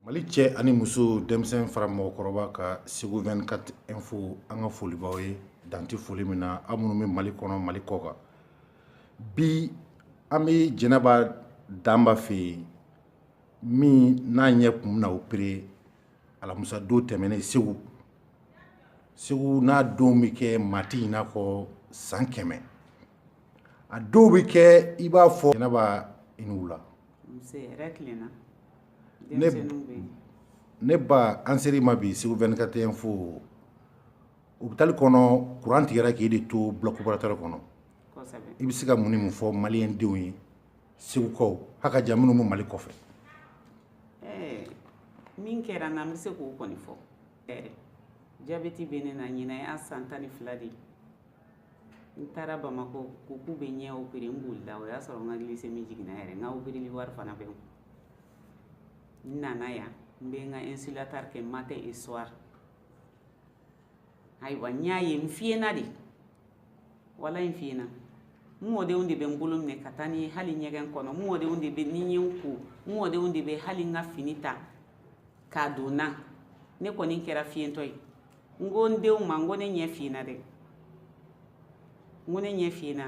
mali cɛ ani muso denmisɛn fara mɔgɔkɔrɔba kan segu 24 info an ka foli b'aw ye dan tɛ foli min na aw minnu bɛ mali kɔnɔ mali kɔ kan bi an bɛ jɛnɛba danba fɛ yen min n'a ɲɛ kun bɛna opere alamusa don tɛmɛnen segu segu n'a dɔw bɛ kɛ maa tɛ ɲina a kɔ san kɛmɛ a dɔw bɛ kɛ i b'a fɔ jɛnɛba i ni wula ne ba an ser'i ma bi segu 24 info opitali kɔnɔ kuran tigɛra k'i de to bloc opératoire kɔnɔ i bɛ se ka mun ni mun fɔ maliyɛn denw ye segukaw ha ka jan minnu bɛ mali kɔfɛ min kɛra n' bɛ se k'o kɔni fɔ jabɛti bɛ ne na ɲin y'a san tan ni fila de ye n taara bamakɔ ko k'u bɛ ɲɛ opere n bolila o y'a sɔrɔ n ka glisemi jiginna yɛrɛ n ka opereli wari fana bɛ n kun n nana yan n bɛ n ka insulatard kɛ matin et soir ayiwa n y'a ye n fiyenna dɛ wala n fiyenna n mɔdenw de bɛ n bolo minɛ ka taa ni hali ɲɛgɛn kɔnɔ n mɔdenw de bɛ ni n ye n ko n mɔdenw de bɛ hali n ka fini ta k'a don n na ne kɔni kɛra fiyentɔ ye n ko n denw ma n ko ne ɲɛ fiyenna dɛ n ko ne ɲɛ fiyenna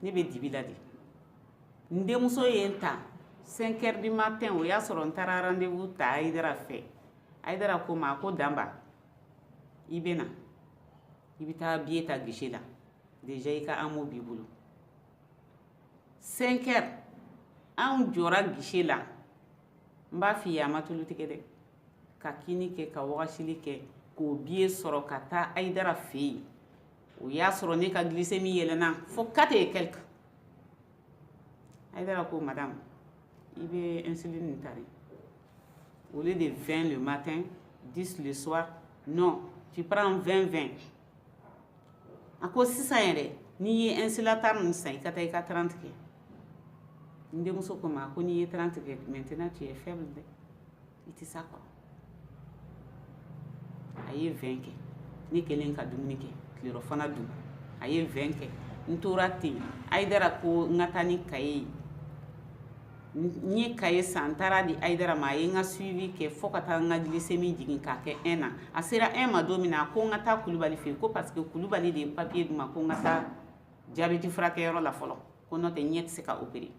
ne bɛ dibi la de n denmuso ye n ta 5 heures du matin o y'a sɔrɔ n taara rendez-vous ta ayidara fɛ ayidara ko n ma ko danba i bɛ na i bɛ taa biye ta guichet la déjà i ka amo b'i bolo 5 heures anw jɔra guichet la n b'a f'i ye a ma tulu tigɛ dɛ ka kini kɛ ka wagasili kɛ k'o biye sɔrɔ ka taa ayidara fɛ yen o y'a sɔrɔ ne ka glisemi yɛlɛnna fo 4 et quelque ayidara ko madame i bɛ insuline nin ta de au lieu de 20 le matin 10 le soir non tu prends 20 20 a ko sisan yɛrɛ n'i ye insulatard ninnu san i ka taa i ka 30 kɛ n denmuso ko n ma ko n'i ye 30 kɛ maintenant tu es faible dɛ i tɛ s'a kɔrɔ a ye 20 kɛ ne kɛlen ka dumuni kɛ tilerɔfana dun a ye 20 kɛ n tora ten ayidara ko n ka taa ni kaye ye n ye kaye san n taara a di ayidara ma a ye n ka suivi kɛ fɔɔ ka taa n ka glisemi jigin k'a kɛ 1 na a sera 1 ma don min na a ko n ka taa kulubali fɛ yen ko parce que kulubali de ye papiye d'u ma ko n ka taa jabɛti furakɛyɔrɔ la fɔlɔ ko n'o tɛ ɲɛ tɛ se ka opere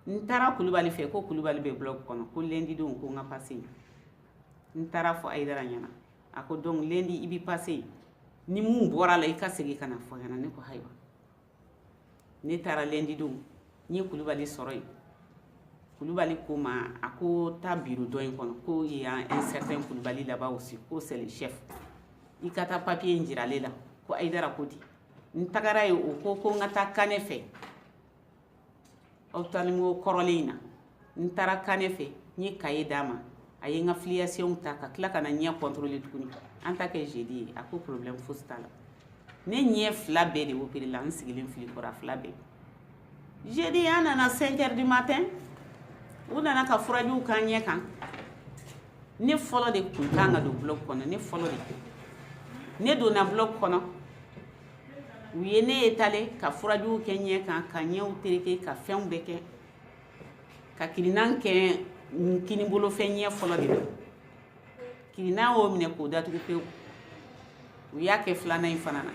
n taara kulubali fɛ ko kulubali bɛ blɔki kɔnɔ ko lendi don ko n ka pase yen n taara fɔ ayidara ɲɛna a ko donc lendi i bɛ pase yen ni min bɔra a la i ka segin ka na fɔ ɲɛna ne ko ayiwa ne taara lundi don n ye kulubali sɔrɔ yen kulubali ko ma a ko taa biro dɔ in kɔnɔ ko il y a un certain kulubali là-bas aussi ko c'est le chef i ka taa papiye in jira ale la ko ayidara ko di n tagara yen o ko ko n ka taa kanɛ fɛ ophtalmo kɔrɔlen in na n taara kanɛ fɛ n ye kaye d'a ma a ye n ka filiation ta ka tila ka na ɲɛ kɔntɔrɔle tuguni an ta kɛ zedi ye a ko problɛmu fosi t'a la ne ɲɛ fila bɛɛ de operela n sigilen filɛ i kɔrɔ a fila bɛɛ zedi an nana 5 heures du matin u nana ka furajiw k'an ɲɛ kan ne fɔlɔ de kun kan ka don bloc kɔnɔ ne fɔlɔ de ne donna bloc kɔnɔ u ye ne étaler ka furajiw kɛ ɲɛ kan ka ɲɛw tereke ka fɛnw bɛɛ kɛ ka kirinan kɛ kinibolo fɛ ɲɛ fɔlɔ de la kirinan y'o minɛ k'o datugu pewu u y'a kɛ filanan in fana na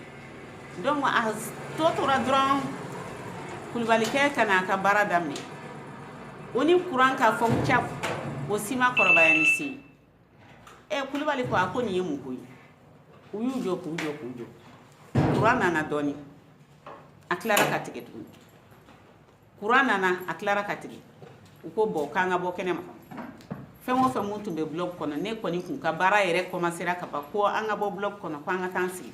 donc a tɔ tora dɔrɔn kulubalikɛ ka na a ka baara daminɛ o ni kuran ka fɔ ca o si ma kɔrɔbaya ni si ye ɛ eh, kulubali ko a ko nin ye mun ko ye u y'u jɔ k'u jɔ k'u jɔ kuran nana dɔɔni a tilara ka tigɛ tuguni kuran nana a tilara ka tigɛ u ko bon k'an ka bɔ kɛnɛma fɛn o fɛn mun tun bɛ blɔki kɔnɔ ne kɔni kun ka baara yɛrɛ kɔmasera ka ban ko an ka bɔ blɔki kɔnɔ ko an ka taa an sigi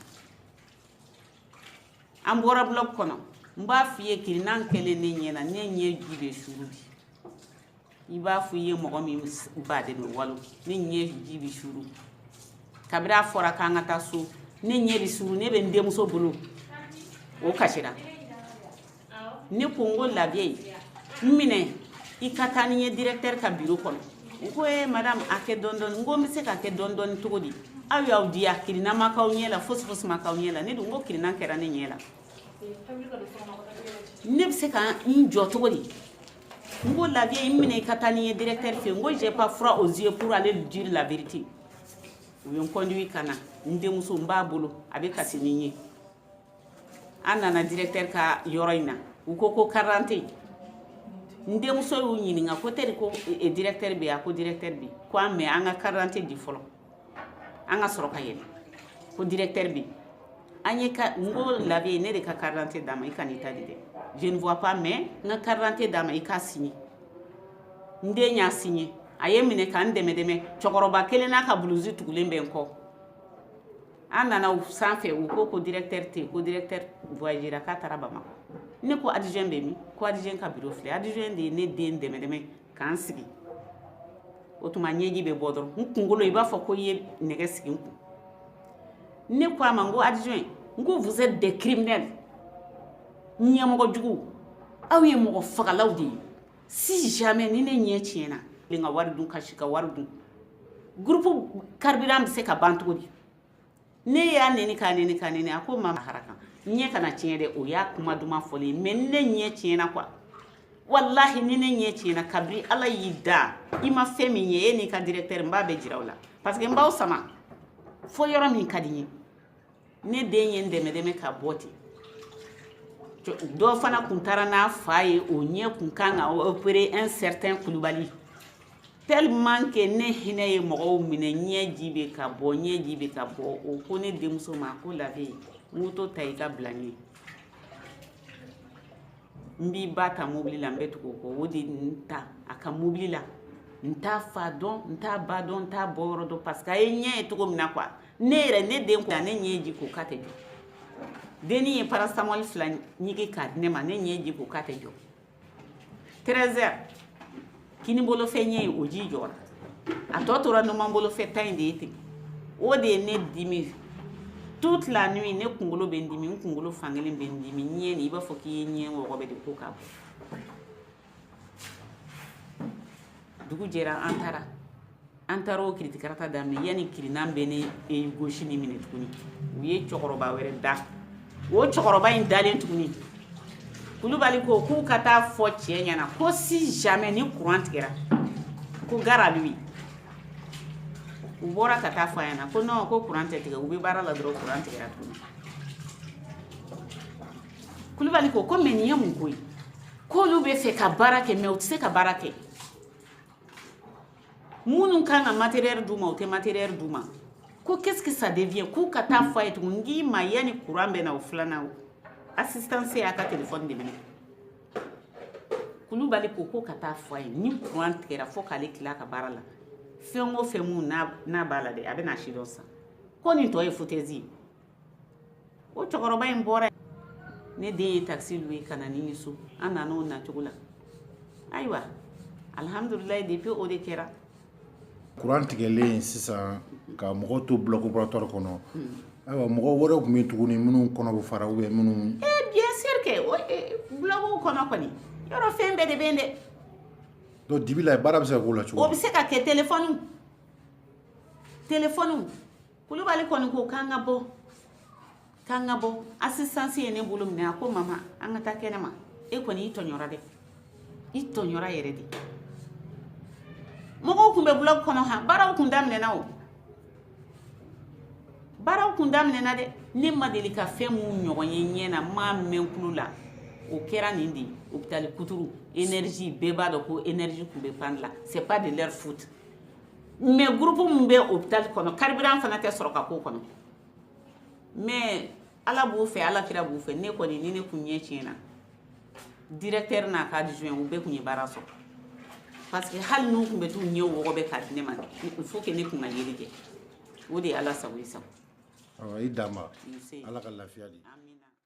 an bɔra blɔki kɔnɔ n b'a f'i ye kirinan kɛlen ne ɲɛ na ne ɲɛji bɛ suru bi i b'a fɔ i ye mɔgɔ min ba de bɛ walo ne ɲɛji bɛ suru kabiri a fɔra k'an ka taa so ne ɲɛ bɛ suru ne bɛ n denmuso bolo o kasira ne ko n ko la vieille n minɛ i ka taa ni n ye directeur ka biro kɔnɔ u ko ee madame a kɛ dɔɔni dɔɔni n ko n bɛ se k'a kɛ dɔɔni dɔɔni cogo di aw y'aw diya kirinan ma k'aw ɲɛ la fosi fosi ma k'aw ɲɛ la ne dun ko kirinan kɛra ne ɲɛ la ne bɛ se ka n jɔ cogo di n ko la vieille n minɛ i ka taa ni n ye directeur fɛ n ko j'ai pas froid aux yeux pour aller lui dire la vérité u ye n conduit ka na n denmuso n b'a bolo a bɛ kasi ni n ye an nana directeur ka yɔrɔ in na u ko ko carte d'identité n denmuso y'u ɲininka ko teri ko e, e, directeur bɛ yen a ko directeur bɛ yen ko ah mais an ka carte d'identité di fɔlɔ an ka sɔrɔ ka yɛlɛ ko directeur bɛ an ye ka n ko la vieille ne de ka carte d'identité d'a ma i kan'i ta di dɛ je ne vois pas mais n ka carte d'identité d'a ma i k'a signer n den y'a signer a ye n minɛ ka n dɛmɛ dɛmɛ cɛkɔrɔba kelen n'a ka buluzi tugulen bɛ n kɔ an nana u sanfɛ u ko ko directeur tɛ yen ko directeur voyagera k'a taara bamakɔ ne ko adjoint bɛ min ko adjoint ka biro filɛ adjoint de ye ne den dɛmɛ dɛmɛ k'an sigi o tuma ɲɛji bɛ bɔ dɔrɔn n kunkolo i b'a fɔ ko i ye nɛgɛ sigi n kun ne ko a ma n ko adjoint n ko vous êtes des criminels ɲɛmɔgɔ juguw aw ye mɔgɔ fagalaw de ye si jamais ni ne ɲɛ tiɲɛna tilen ka wari dun ka si ka wari dun groupe carburant bɛ se ka ban cogo di ne y'a neni k'a neni k'a neni a ko mama ala ka ɲɛ kana tiɲɛ dɛ o y'a kuma duman fɔli ye mɛ ni ne ɲɛ tiɲɛna quoi walahi ni ne ɲɛ tiɲɛna kabiri ala y'i dan i ma fɛn min ye e n'i ka directeur n b'a bɛɛ jira aw la parce que n b'aw sama fo yɔrɔ min ka di n ye ne den ye n dɛmɛ dɛmɛ ka bɔ ten dɔ fana kun taara n'a fa ye o ɲɛ kun kan ka opérer un certain kulubali tellement que ne hinɛ ye mɔgɔw minɛ ɲɛji bɛ ka bɔ ɲɛji bɛ ka bɔ o ko ne denmuso ma ko labe moto ta i ka bila n ɲɛ n b'i ba ta mobili la n bɛ tugu o kɔ o de ye n ta a ka mobili la n t'a fa dɔn n t'a ba dɔn n t'a bɔ yɔrɔ dɔn parce que a ye ɲɛ ye cogo min na quoi ne yɛrɛ ne den ko ne ɲɛji ko k'a tɛ jɔ denni ye paracétamol fila ɲigi k'a di ne ma ne ɲɛji ko k'a tɛ jɔ 13 heures kini bolo fɛ ɲɛ o ji jɔra a tɔ tora numan bolo fɛ ta in de ye ten o de ye ne dimi toute la nuit ne kunkolo bɛ n dimi n kunkolo fankelen bɛ n dimi ɲɛ nin i b'a fɔ k'i ye ɲɛ wɔgɔbɛ de ko ka bɔ dugu jɛra an taara an taara o kiritikarata daminɛ yanni kirinan bɛ ne ɲɛ gauche nin minɛ tuguni u ye cɛkɔrɔba wɛrɛ da o cɛkɔrɔba in dalen tuguni kulubali ko k'u ka taa fɔ cɛ ɲɛna ko si jamais ni kuran tigɛra ko gare à lui u bɔra ka taa fɔ a ɲɛna ko non ko kuran tɛ tigɛ u bɛ baara la dɔrɔn kuran tigɛra tuguni kulubali ko ko mais nin ye mun ko ye k'olu bɛ fɛ ka baara kɛ mais u tɛ se ka baara kɛ minnu kan ka matériel d'u ma u tɛ matériel d'u ma ko qu'est-ce que ça devient k'u ka taa fɔ a ye tugun n k'i ma yanni courant bɛ na o filanan o assistance y'a ka téléphone de mɛnɛ kulubali ko ko ka taa fɔ a ye ni courant tigɛra fo k'ale tila ka baara la fɛn o fɛn mun n'a b'a la dɛ a bɛna a sidɔn sa ko nin tɔ ye foutaise ye o cɛkɔrɔba in bɔra ne den ye taxi louer ka na ni n ye so an nana o nacogo la ayiwa alhamdulilayi depuis o de kɛra kuran tigɛlen sisan ka mɔgɔw to bloc opératoire kɔnɔ ayiwa mɔgɔ wɛrɛw tun bɛ yen tuguni minnu kɔnɔ bɛ fara ou bien minnu eh bien sûr que o eh, bloc kɔnɔ kɔni yɔrɔ fɛn bɛɛ de bɛ yen dɛ donc dibi la baara bɛ se ka k'o la cogo di o bɛ se ka kɛ telefɔniw telefɔniw kulubali kɔni ko k'an ka bɔ k'an ka bɔ assistance ye ne bolo minɛ a ko mama an ka taa kɛnɛ ma e kɔni i tɔɲɔra dɛ i tɔɲɔra yɛrɛ de mɔgɔw tun bɛ bloc kɔnɔ ha baaraw tun daminɛna o baaraw tun daminɛna dɛ ne ma deli ka fɛn min ɲɔgɔn ye ɲɛ na m'a mɛn tulo la o kɛra nin de ye hopitali kuturu énergie bɛɛ b'a dɔn ko énergie tun bɛ panne de la c'est pas de leur faute mais groupe min bɛ hopitali kɔnɔ carburant fana tɛ sɔrɔ ka k'o kɔnɔ mais ala b'u fɛ ala kira b'u fɛ ne kɔni ni ne kun ɲɛ tiɲɛna directeur n'a ka adjoint u bɛɛ kun ye baara sɔrɔ parce que hali n'u kun bɛ t'u ɲɛ wɔgɔbɛ k'a di ne ma il faut que ne kun ka yeli kɛ o de ye ala sago i sago i dan ma ala ka lafiya di